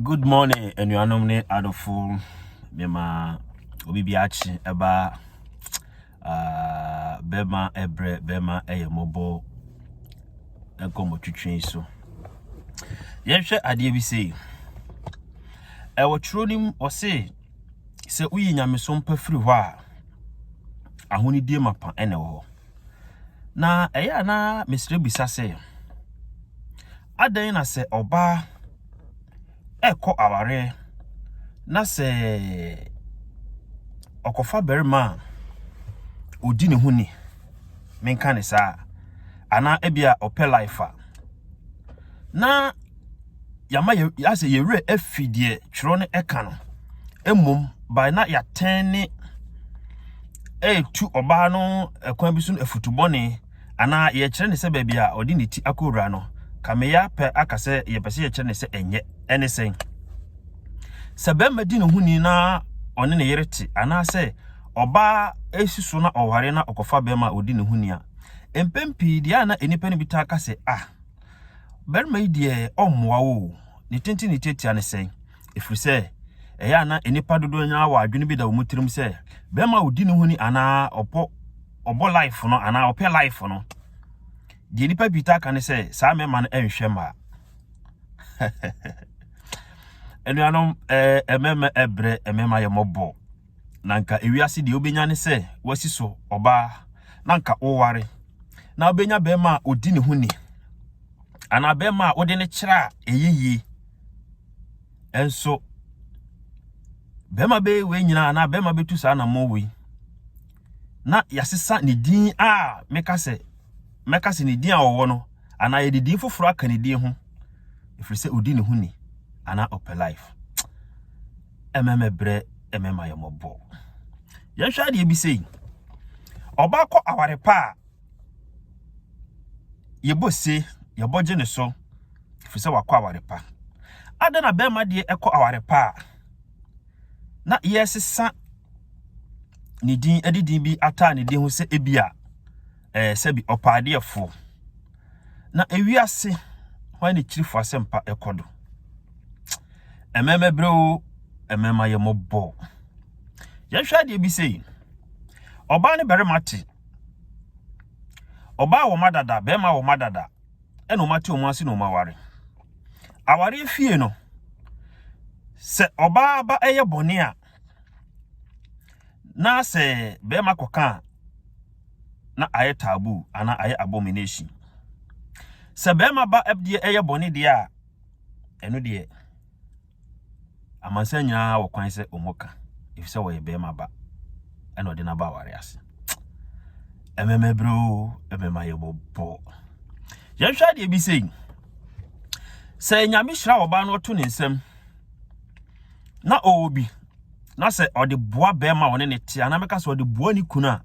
Good morning, anuanom ne adɔfo. Mema obi bi akye ɛba uh, bɛma ɛbrɛ bɛma ɛyɛ mmɔbɔ nkɔmmɔ twitwi so. Yɛnhwɛ adeɛ bi sei. Ɛwɔ twerɛ no mu ɔse sɛ woyi nyamesom pa firi hɔ a ahonidie mapa ɛna ɛwɔ hɔ. Na ɛyɛ a na mesrɛ bisa sɛ, adɛn na sɛ ɔbaa ɛkɔ awareɛ na sɛ ɔkɔfa barima a ɔdi ne ho ni, menka ne saa, anaa ebia ɔpɛ life a, na yɛama yɛ asɛ yɛ werɛ afi deɛ twerɛ no ɛka no mmom by na yɛatɛn ne ɛretu ɔbaa no ɛkwan bi so no afutu bɔne anaa yɛkyerɛ ne sɛ baabi a ɔde ne ti akɔwura no kameya pɛ aka sɛ yɛpɛ sɛ yɛkyerɛ ne sɛ ɛnyɛ ɛne sɛn sɛ bɛrima di ne ho ni na ɔne ne yere te anaasɛ ɔbaa esi so na ɔware na ɔkɔfa bɛrima a ɔdi ne ho ni a mpɛn pii deɛ a na nnipa no bi taa ka sɛ ah Barima yi deɛ ɔmmoa wo o, ne tenten ne tiatia ne sɛn? Ɛfiri sɛ, ɛyɛ a na nnipa dodoɔ nyinaa wɔ adwene bi da wɔn tirim sɛ, bɛrima a ɔdi ne ho ni anaa ɔpɔ ɔbɔ life no anaa ɔpɛ life no, deɛ nnipa pii taa ka ne sɛ, saa mmarima no nhwɛ mmaa. Anuanom, ɛɛ mmarima ɛbrɛ, mmarima yɛ mmɔbɔ. na anka ewiase deɛ wobɛnya ne sɛ wasi so ɔbaa na anka woware na wobɛnya bɛrima a ɔdi ne ho ni anaa bɛrima a wode ne kyerɛ a ɛyɛ yie ɛnso bɛrima bɛyɛ wei nyinaa anaa bɛrima bɛtu saa na mmɔ wei na yɛasesa ne din a meka sɛ mɛka sɛ ne din a ɔwɔ no anaa yɛde din foforɔ aka ne din ho ɛfiri sɛ ɔdi ne ho ni anaa ɔpɛ life ɛmɛ mɛ brɛ ɛmɛ ma yɛ mɔbɔ yɛn hwɛ adeɛ bi sei ɔba kɔ aware pa a yɛbɔ se yɛbɔ gye ne so fi sɛ wakɔ aware pa ada na bɛrima deɛ ɛkɔ aware pa a na yɛsesa ne din ɛde din bi ataa ne din ho sɛ ebi a ɛɛ sɛbi ɔpaadeɛfoɔ na ewiase hwan ne kyirifo asɛmpa ɛkɔ do. Mmɛmɛbrɛ o, mmɛma yɛ mɔbɔ. Yɛhwɛ adeɛ bi sei. Ɔbaa ne barima te. Ɔbaa wɔ ma dada, barima wɔ ma dada. Ɛna wɔn ate wɔn ase na wɔn aware. Awareɛ fie no, sɛ ɔbaa ba ɛyɛ bɔne a, na sɛ barima kɔka a, na ayɛ taboo anaa ayɛ abomination. Sɛ barima ba deɛ ɛyɛ bɔne deɛ a, ɛno deɛ amansan nyinaa wɔ kwan sɛ wɔn ka efisɛ wɔyɛ bɛrima ba ɛna ɔde n'aba aware ase ɛmɛmɛ bere o ɛmɛma yɛ bɔbɔ yɛhwɛ adeɛ bi sɛ sɛ nyame hyira ɔbaa no ɔto ne nsam na ɔwɔ bi na sɛ ɔde boa bɛrima ɔne ne te anaa mɛka sɛ ɔde boa ne kunu a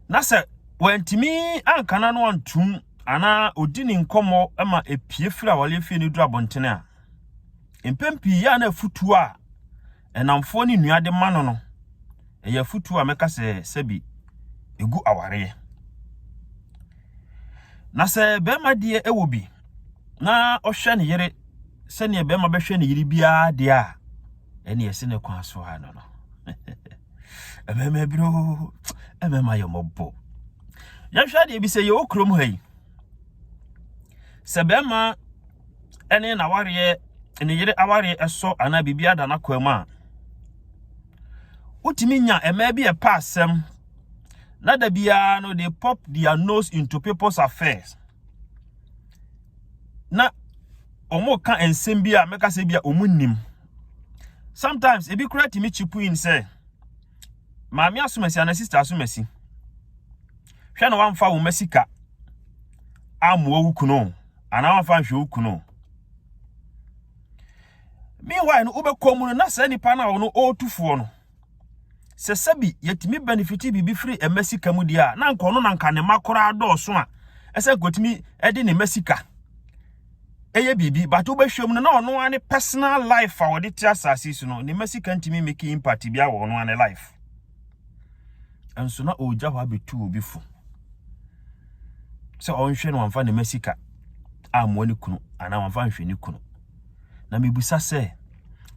na sɛ wantumi ankana no antum anaa odi ne nkɔmmɔ ma epie firi awareɛ fie no duru abɔntene a, mpɛn pii yɛ a na afutuo a ɛnamfoɔ ne nnua de ma no no, ɛyɛ afutuo a mɛka sɛ sɛbi ɛgu awareɛ. Na sɛ bɛrima deɛ ɛwɔ bi na ɔhwɛ ne yere sɛdeɛ bɛrima bɛhwɛ ne yere biara deɛ a, ɛne ɛsi ne kwan so a no no. Ɛmɛma biro, ɛmɛma yɛ mɔbɔ. yɛnhwɛ adeɛ bi sɛ yɛwɔ kurom ha yi sɛ bɛrima ne n'awareɛ ne yere awareɛ ɛsɔ anaa biribi ada n'akwan mu a wotumi nya mmaa bi a ɛpa asɛm na da biara no they pop their nose into people's affairs na wɔn ka nsɛm bi a mɛka sɛ bi a wɔn nim sometimes ebi kura tumi chipu in sɛ. Maame asomasi anaa sista asomasi, hwɛ na wamfa wo mma sika ammoa wo kunu o, anaa wamfa anhwɛ wo kunu o. Meanwhile no, wobɛkɔ mu no na saa nipa no a ɔno ɔretu foɔ no, sɛ sɛbi yɛtumi benefit biribi firi mma sika mu deɛ a, na nka ɔno na nka ne mma koraa dɔɔso a ɛsɛ nkotumi de ne mma sika. yɛ biribi but wobɛhwɛ mu no na ɔno ara ne personal life a ɔde te asase so no ne ma sika ntumi make impact bia wɔ ɔno ara ne life nso na ɔregya hɔ abɛtu obi fo sɛ ɔnhwɛ no ɔmfa ne ma sika ammoa ne kunu anaa ɔmfa nhwɛ ne kunu na mebusa sɛ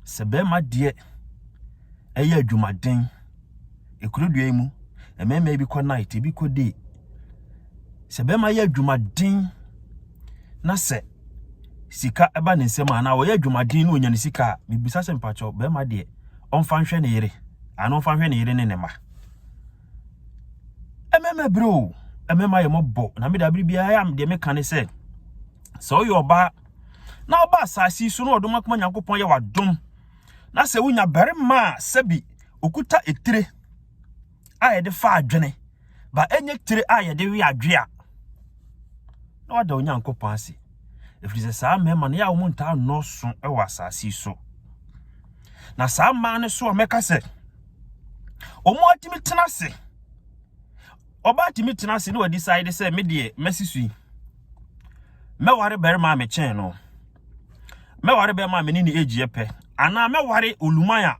sɛ bɛrima deɛ ɛyɛ adwumaden ɛkurodua yi mu mmarima bi kɔ night ebi kɔ day sɛ bɛrima yɛ adwumaden na sɛ sika ba ne nsam anaa ɔyɛ adwumaden na ɔnya ne sika a mebisa sɛ mpakyɛw bɛrima deɛ ɔmfa nhwɛ ne yere anaa ɔmfa nhwɛ ne yere ne ne ma ɛmɛma bere o ɛmɛma yɛ mɔbɔ na meda bere biara a deɛ meka ne sɛ sɛ ɔyɛ ɔbaa na ɔba asase so na ɔdom akoma nyankopɔn yɛ wadom na sɛ wonya barima a sɛbi okuta etire a yɛde fa adwene ba ɛnyɛ tire a yɛde we adwe a na wada onyankopɔn ase ɛfiri sɛ saa mmarima no yɛ a wɔn ntaa nnɔɔso wɔ asase so na saa mmaa no so a mɛka sɛ wɔn atumi tena ase ɔbaa tumi tena ase na wɔde saa de sɛ me deɛ mɛsi so yi mɛware barima a mekyɛn no mɛware bɛrima a me ne ne age yɛ pɛ anaa mɛware oluman a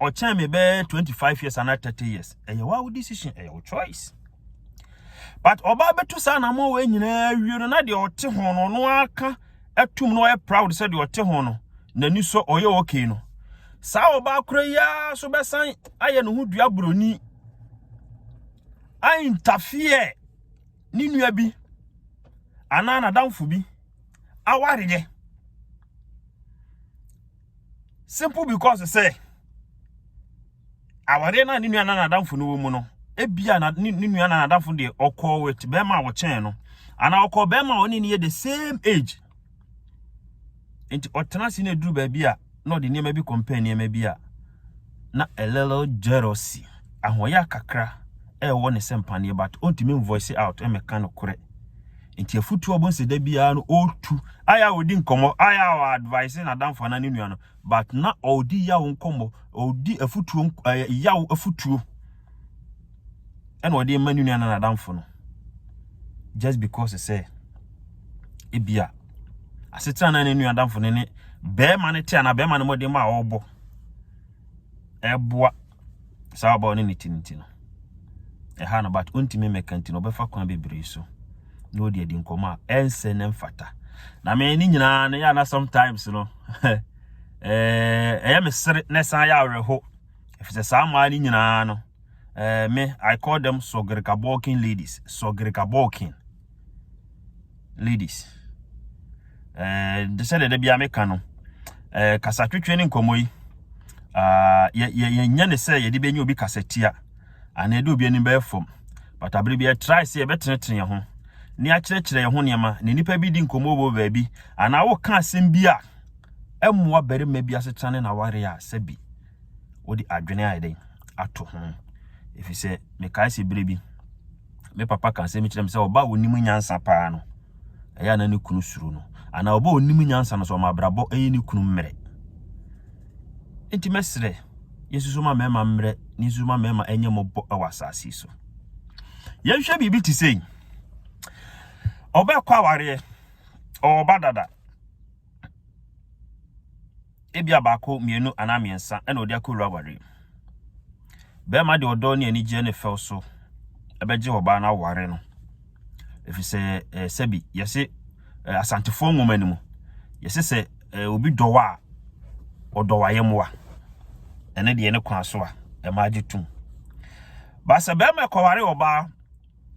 ɔkyɛn me bɛyɛ twenty five years anaa thirty years ɛyɛ wa wo decision ɛyɛ wo choice but ɔbaa bɛtu saa na mo wɔ nyinaa wie no na deɛ ɔte ho no ɔno aka atum na ɔyɛ proud sɛ deɛ ɔte ho no n'ani sɔ ɔyɛ okay no saa ɔbaa koro yi ara so bɛsan ayɛ ne ho dua buroni aintafeɛ ne nua bi anaa n'adamfo bi awareɛ. simple because sɛ aware no a ne nua na n'adamfo no wɔ mu no ebia na ne nua na n'adamfo deɛ ɔkɔɔ wit bɛrima a wɔkyɛn no anaa ɔkɔɔ bɛrima a ɔne ne yɛ the same age nti ɔtena ase na eduru baabi a na ɔde nneɛma bi compare nneɛma bi a na a little jealousy ahoɔyɛ kakra ɛwɔ ne sɛ mpaneɛ but ɔntumi voice out ɛmɛka no korɛ Nti afutu ɔbɔ nsɛ da biara no ɔtu. Ayɛ a ɔdi nkɔmmɔ, ayɛ a ɔ advise n'adamfo anaa ne nua no, but na ɔdi yaw nkɔmmɔ, ɔdi afutuo ɛɛ yaw afutuo ɛna ɔde rema ne nua anaa n'adamfo no. Just because sɛ ebia asetena na ne nua adamfo no ne bɛrima no te anaa bɛrima no mmɔden ma a ɔrebɔ ɛboa saa ɔbaa ɔne ne ti nti no ɛha no but ontumi mmɛka nti no ɔbɛfa kwan bebree so na ɔde adi nkɔmɔ a ɛnsɛ ne mfata na me ne nyinaa no yɛ ana sometimes no ɛyɛ me sere na ɛsan yɛ awerɛho ɛfisɛ saa mmaa no nyinaa no me I call them sɔgerika balking ladies sɔgerika balking ladies eh, de sɛdeɛ da biara meka no eh, kasatwetwe ne nkɔmmɔ yi ah, yɛnyɛ ne sɛ yɛde bɛnya obi kasatia anaa yɛde obi anim bɛyɛ fam but abere bi yɛtrae sɛ yɛbɛtenetene yɛn ho ne akyerɛkyerɛ yɛn ho nneɛma na nnipa bi di nkɔmmɔ wɔ baabi anaa woka asɛm bi a ɛmmoa barima bi asetena ne n'awareɛ a sɛ bi wode adwene ayɛ dɛn ato ho ɛfiri sɛ mekae sɛ berɛ bi me papa ka sɛ mekyerɛ me sɛ ɔba a ɔnim nyansa paa no ɛyɛ a na ne kunu suro no anaa ɔba a ɔnim nyansa no sɛ ɔma abrabɔ ɛyɛ ne kunu mmerɛ nti mɛserɛ yɛsusu ma mmarima mmerɛ ne nsusu ma mmarima ɛnyɛ mmɔbɔ ɛwɔ asase so yɛnhwɛ biribi te sɛ ɔbɛkɔ awareɛ ɔba dada ebia baako, mmienu anaa mmiɛnsa na ɔde akɔwura awareɛ mu. Barima de ɔdɔ ne anigyeɛ ne fɛw so bɛgye ɔbaa no aware no, ɛfiri sɛ eh, sɛbi yɛse eh, asantefoɔ nwoma no mu yɛse sɛ eh, obi dɔ wo a ɔdɔ w'ayɛmmoa ɛne deɛ ne kwan so a ɛma agye tom ba sɛ bɛrima kɔware ɔbaa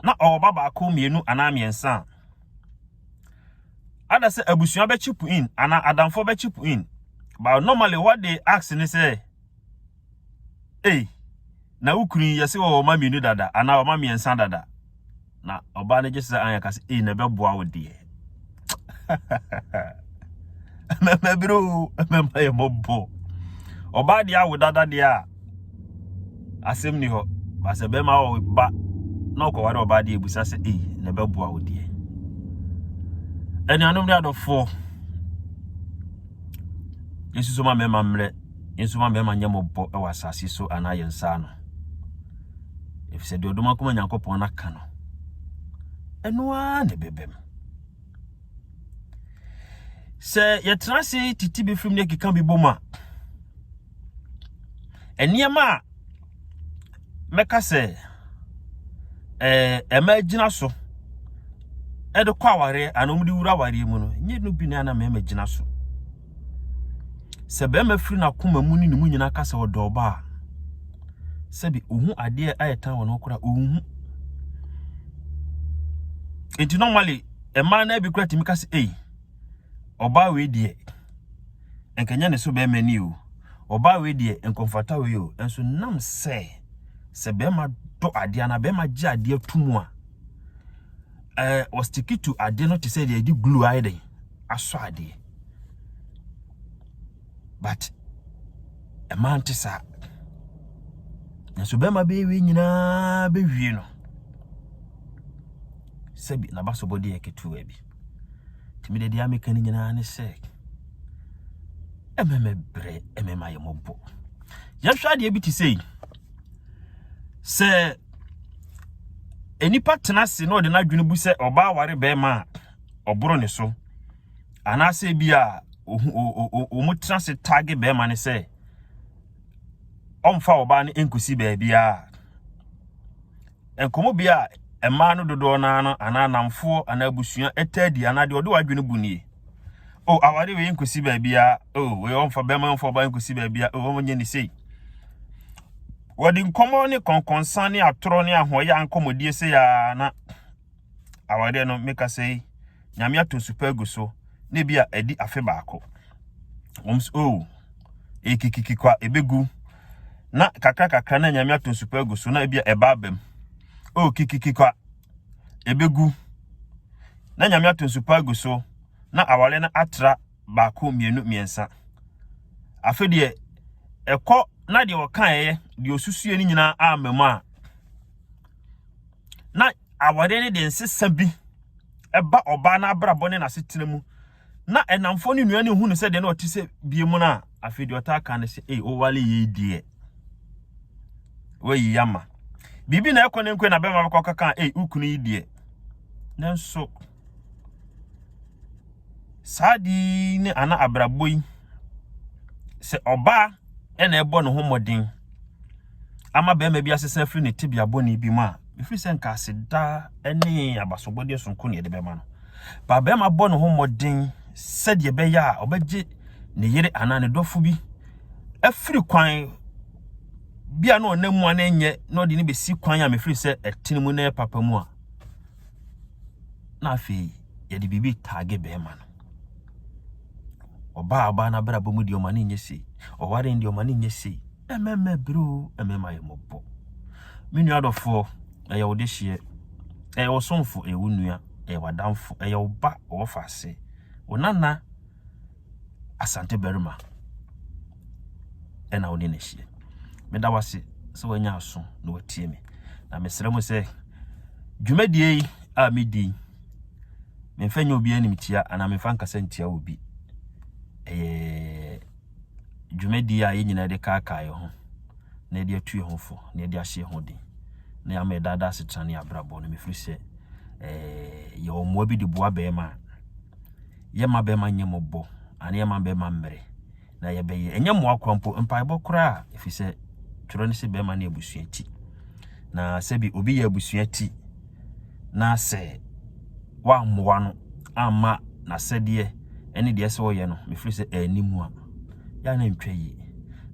na ɔwɔ ba baako mmienu anaa mmiɛnsa a Ada sɛ abusua bɛ chip in anaa adamfoɔ bɛ chip in. But normally what they ask ne sɛ, ei, na wo kunu yi yɛse wɔwɔ ma mmienu dada anaa wɔma mmiɛnsa dada. Na ɔbaa no gye sɛ anyɛ ka sɛ, ei, na ɛbɛboa wo deɛ. Mɛmɛbere o, mɛma yɛ mɔbɔ. Ɔbaa deɛ awo dada deɛ a, asɛm ni hɔ ba sɛ bɛrima wɔ ba na ɔkɔware ɔbaa deɛ ebusa sɛ ei na ɛbɛboa wo deɛ anuanom ne adɔfoɔ nsusu ma mmarima mmerɛ nsusu ma mmarima nyɛ mɔbɔ wɔ asase so anaa yɛn nsa ano efisɛ deɛ ɔdoma kɔma nyankopɔn n'aka no ɛno ara na ɛbɛbɛm sɛ yɛtena ase titi bi firim ne keka bi bom a nneɛma a mɛka sɛ ɛɛ ɛma gyina so ɛde kɔ awareɛ anaa wɔde wura awareɛ mu no nyɛ no bi na na mɛma gyina so sɛ bɛrima firi n'akoma mu ne ne mu nyinaa ka sɛ ɔdɔ ɔbaa sɛbi ohun adeɛ a ɛtan wɔn ho kora ohun nti normally mmaa naa bi kora tumi ka sɛ ei ɔbaa wei deɛ. nka ɛnyɛ ne so bɛrima ni o, ɔbaa wei deɛ nka ɔmfata wei o, nso nam sɛ sɛ bɛrima dɔ adeɛ anaa bɛrima gye adeɛ to mu a, ɛɛ ɔstiki to adeɛ no te sɛ deɛ yɛde glue ayɛ dɛn asɔ adeɛ but ɛmaa nte saa nso bɛrima bɛyɛ wei nyinaa bɛwie no sɛbi n'abasobɔdeɛ ketewa bi. Nti mede deɛ meka no nyinaa ne sɛ ɛmɛ mɛbrɛ ɛmɛ ma yɛ mɔbɔ yɛhwɛ adeɛ bi te sɛ yi sɛ nnipa tena ase na ɔde n'adwene bu sɛ ɔbaa ware bɛrima a ɔboro ne so anaasɛ bi a wɔn tena ase taage bɛrima ne sɛ ɔmfa ɔbaa no nkɔsi baabiara Nkɔmmɔbea a mmaa no dodoɔ no ara no anaa nnamfoɔ anaa abusua taa di anaa deɛ ɔde w'adwene bu nie. O oh, aware wei nkɔsi baabiara. O oh, wei ɔmfa bɛrima ɔmfa ɔbaa nkɔsi baabiara. O oh, ɔmnyɛ ne sei. Wɔde nkɔmmɔ ne kɔnkɔnsa ne atorɔ ne ahoɔyɛ ankɔmmɔdie sei ara na awareɛ no me kasa yi nyame ato nsupa agu so na ebi a ɛdi afe baako wɔn so oh ekikiki kwa ebegu na kakra kakra na nyame ato nsupa agu so na ebi a ɛba abam oh kikiki kwa ebegu na nyame ato nsupa agu so na awareɛ no atra baako mmienu mmiɛnsa afe deɛ ɛkɔ na deɛ ɔkaeɛ deɛ osusuɛ no nyinaa ama mu a na aware no de nsesa bi ba ɔbaa no abrabɔ ne n'asetena mu na ɛnamfoɔ ne nua no hu no sɛ deɛ na ɔte sɛ bie mu no a afei deɛ ɔtaa ka no sɛ ei owale yei deɛ wayi ama biribi na ɛkɔ ne nkwe na bɛma bɛkɔ kaka ei wokunu yi deɛ nanso Saa ade yi ne ana abrabɔ yi, sɛ ɔbaa na ɛbɔ ne ho mmɔden ama barima bi asesa afiri ne tebea bɔne bi mu a, ɛfiri sɛ nka aseda ne abasobɔdeɛ sononko na yɛde bɛma no. Ba barima bɔ ne ho mmɔden sɛdeɛ ɛbɛyɛ a ɔbɛgye ne yere anaa ne dɔfo bi afiri kwan bi a na ɔnam mu a na ɛnyɛ na ɔde no bɛsi kwan a mefiri sɛ ɛtene mu na ɛyɛ papa mu a, na afei yɛde biribi taage bɛrima no. Ɔbaa ɔbaa no abrabɔ mu deɛ ɔma no nyɛ sei, ɔware no deɛ ɔma no nyɛ sei. Mmarima bere o, mmarima yɛ mmɔbɔ. Me nua dɔfoɔ, ɛyɛ wo dehyeɛ, ɛyɛ wo somfo, ɛyɛ wo nua, ɛyɛ w'adamfo, ɛyɛ wo ba ɔwɔ faase, wo nana, Asante barima na wo ne no ahyia. Meda wo ase sɛ wanya aso na watie me. Na mesrɛ mo sɛ dwumadie yi a medi memfa nyɛ obi animtia anaa memfa nkasa ntia obi. Ɛyɛ dwumadie a yɛn nyinaa de kaakae ho na yɛde atu yɛn ho fo na yɛde ahyɛ ho den na yɛama ɛdaadaa asetena ne abrabɔ no mefiri sɛ yɛwɔ mmoa bi de boa bɛrima a yɛma bɛma nyɛ mɔbɔ anaa yɛma bɛma mmerɛ na yɛbɛyɛ ɛnyɛ mmoa kora mpo mpaebɔ koraa ɛfiri sɛ twerɛ no sɛ bɛma ne abusua ti na sɛbi obi yɛ abusua ti na sɛ wammoa no amma n'asɛdeɛ ɛne deɛ sɛ ɔyɛ no mefiri sɛ ɛni mu a yɛ na ntwa yie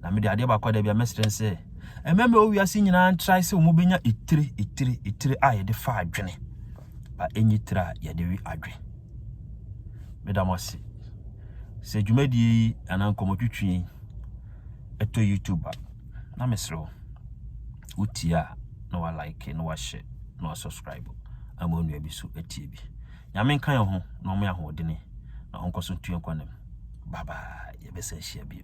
na mede adeɛ baako da bi a mɛsrɛ sɛ ɛmɛmɛ owiase nyinaa ntrae sɛ wɔn bɛnya etire etire etire a yɛde fa adwene a ɛnyi tire a yɛde we adwe. Meda mo ase. Sɛ dwumadie yi anaa nkɔmmɔtwitwi yi ɛtɔ YouTube a, na mesrɛ wo, wotie a na wa like na wahyɛ na wa subscribe ama onua bi so atie bi. Nyame nka yɛn ho na ɔmo ahoɔdene na ɔnkɔ so ntua nkwanam. Bye bye. Yɛbɛsan hyia bio.